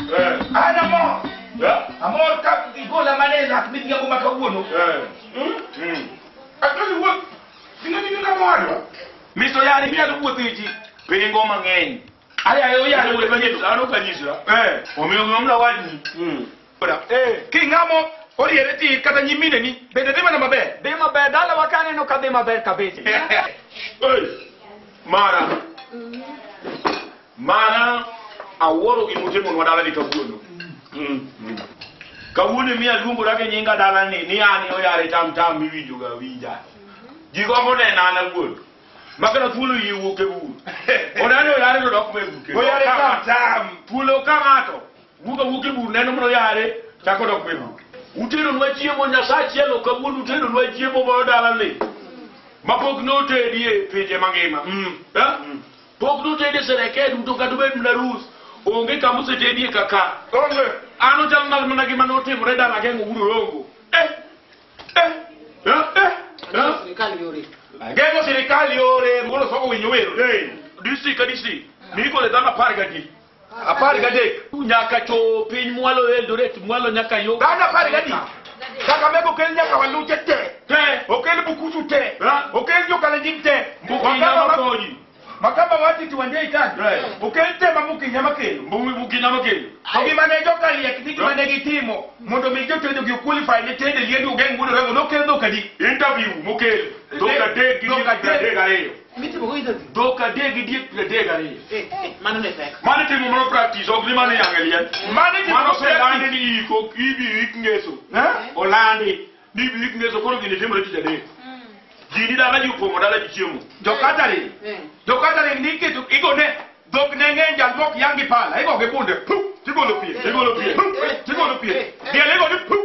Eh, An amor. eh, Amor ka igola mana e lak midhiga kuma kawuono. eh. Hmm? Mm. Atoni wuoth. Sina nini kama wadwa? Miso yari minyalo wuotho e ji pingo mang'eny. Ayaye oyalo wuoth manyiso. Dhano ka nyisa. Eh. Omiyo ng'amla wadni. Mm. Oda. Eh. King'amo oriere ti kata nyimine ni bende dhi mana maber. Dhi maber, dalawa ka aneno ka dhi maber kabisa. Oi. Mara. Mana awuoro gima usemonwa dalani kawuono. Kawuono mi aluongora gi nyinga dalani ni an e oyare tam tam miwinjoga awinja. Ji gombo nena an awuon. Makana thuolo yie wuok e bur. Onani oyare to dok me buke. Oyare tam tam. Thuolo ka ng'ato wuok awuok e bur neno mana oyare chako dok me bur. Uteronwa chiemo Nyasaye achiel ok awuon uteronwa chiemo moro dalani. Mapok notedie pinje mangima. Mm. Eh? Pok notede sereket uto kata obed mana rus. Onge kama osetedie kaka. Onge. An ochal mal mana gima notimore dala geng'o uru rongo. Eh. Eh. Eh. Eh. Eh. Sirikal yore. Geng'o sirikal yore. Molo soko winyo wero. Hey. DC ka DC. Miko le dhano apar gadi. apar gadek nyaka cho piny mwalo eldoret mwalo nyaka yo dhano apar gadek kakamega okel nyaka waluche te te okel bukusu te Ha? okel jokalenjin te mbukinya Wakamba ma- makonyi makamba watiti wande itani Right. okel te mamukinya makelo Mbu- mbukinya makonyi to gima ne jokaliek ni gima ne gitimo mondo mi jotedo gi qualify ne tende liedi ogeng wudo rego nokel dhokadi interview mokel dhok adek gi Dhok adek. adek ariyo Mitimo go interview. Dhok adek gi diek piero adek gariyo. Eh, eh, mano ne pek. Mano itimo mono practice, ok ni mano iyang'e liel. Mano itimo Mano mono practice. oselandi ni iko, ibiro ik ngeso. Eh? Olandi ni ibiro ik ngeso, koro gini timore tich adek. Ji ni dala ji opong'o dala ji chiemo. Jokatari. Eh. Jokatari ni kitu igone dhok ne ng'eny jal mok yangi pala. Igogi bunde. Puh! Tigolo pie. Tigolo pie. Puh! Tigolo pie. Diel igoni puh!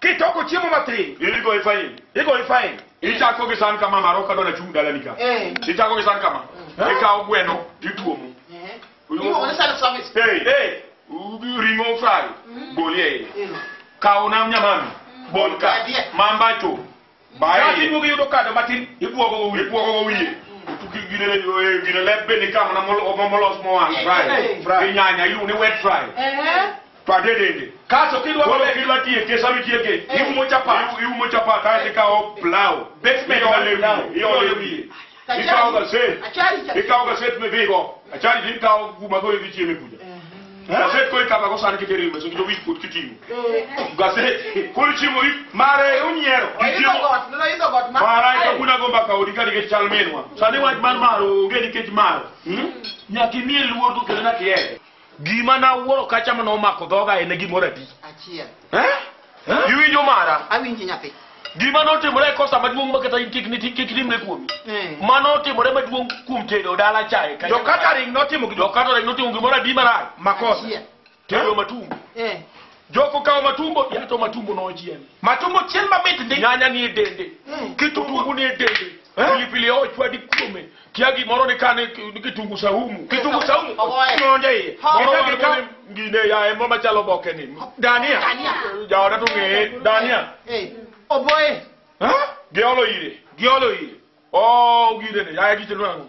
Kitoko chiemo matin, in igoyi fain. igoyi fain. Ichako gi san kama maro kadwa na chung' dalani ka. Eh. Ichako gi san kama. Eh. Ikawo gweno tituomo. Eh. Iluongo ni self service. Hey, hey. U- Ring'o fry. Bolie. Kawo nam nyamami. Bol ka. Adie. Mambacho. Baye. Kati duogo yudo kado matin, ibuogo go wiye. Ibuogo go wiye. Tuki gine le yoe gine le be ni kama na molo mo molos mo wan fry. Fry. Ni nyanya ilu ni wet fry. Eh. To adedende. Kaso kidwa Kolo bebe. kidwa tiye ke sami tiye ke. Iwu mo chapa. Iwu mo chapa ka ti ka o plow. Basement Iole na wiye. plow. Iole wiye. Kachali- Ikawo gaset. Achali cha- Ikawo gaset midhigo. Achali to ikawo guma koro idhi chieme kucha. Gaset koro ikama go sani kikere mesa kito wich kod kiting'o. Gaset koro chiemo i mare unyiero. Oidho Ichiemo. got, neno idho got ma- Mara ito kuna gomba ka odi ka nikech chal minwa. Sani wach mar maro onge nikech maro. Hmm? Nyaka imiye luor to kendo nyaka ihere. Gima na wuoro kacha ma nomako dhoga en gimoro adi? Achiel. Eh? Eh? Iwinjo mara? Awinji nyathi. Gima notimore e kosa maduong' makata in kik niti kik nimre kuomi. Eh. Ma notimore maduong' kuom tedo dala chae. kacha- Jo catering notimo gi Jo catering notimo gimoro adi marach? makosa. Achiel. Tedo matumbo. Eh. Joko kawo matumbo, yato matumbo nochiel. Matumbo chiel mamit ndi. Nyanya ni e dende. Eh. Kitungu ni e dende. Eh? pilipili hoho chwadi kuome kia gimoro ni kane ni kitungu saumu kitungu saumu Ogoye. nonde iye Moro Eka wan gikaw- koni ngine ya emo machalo boke ni dania Dania. jaoda to ng'eye dania Eh, oboye. Eh? giolo ire giolo iye o gire ni ya gichelo nango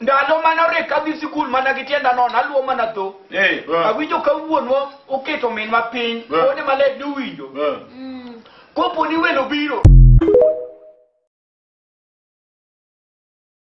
Ndalo mane orek kadhi sikul mana gi tienda nono, aluwo mana dho. Eh. Awinjo ka wuonwa oketo minwa piny, Eh. wuode maler ni owinjo. Eh. Kopo ni welo biro,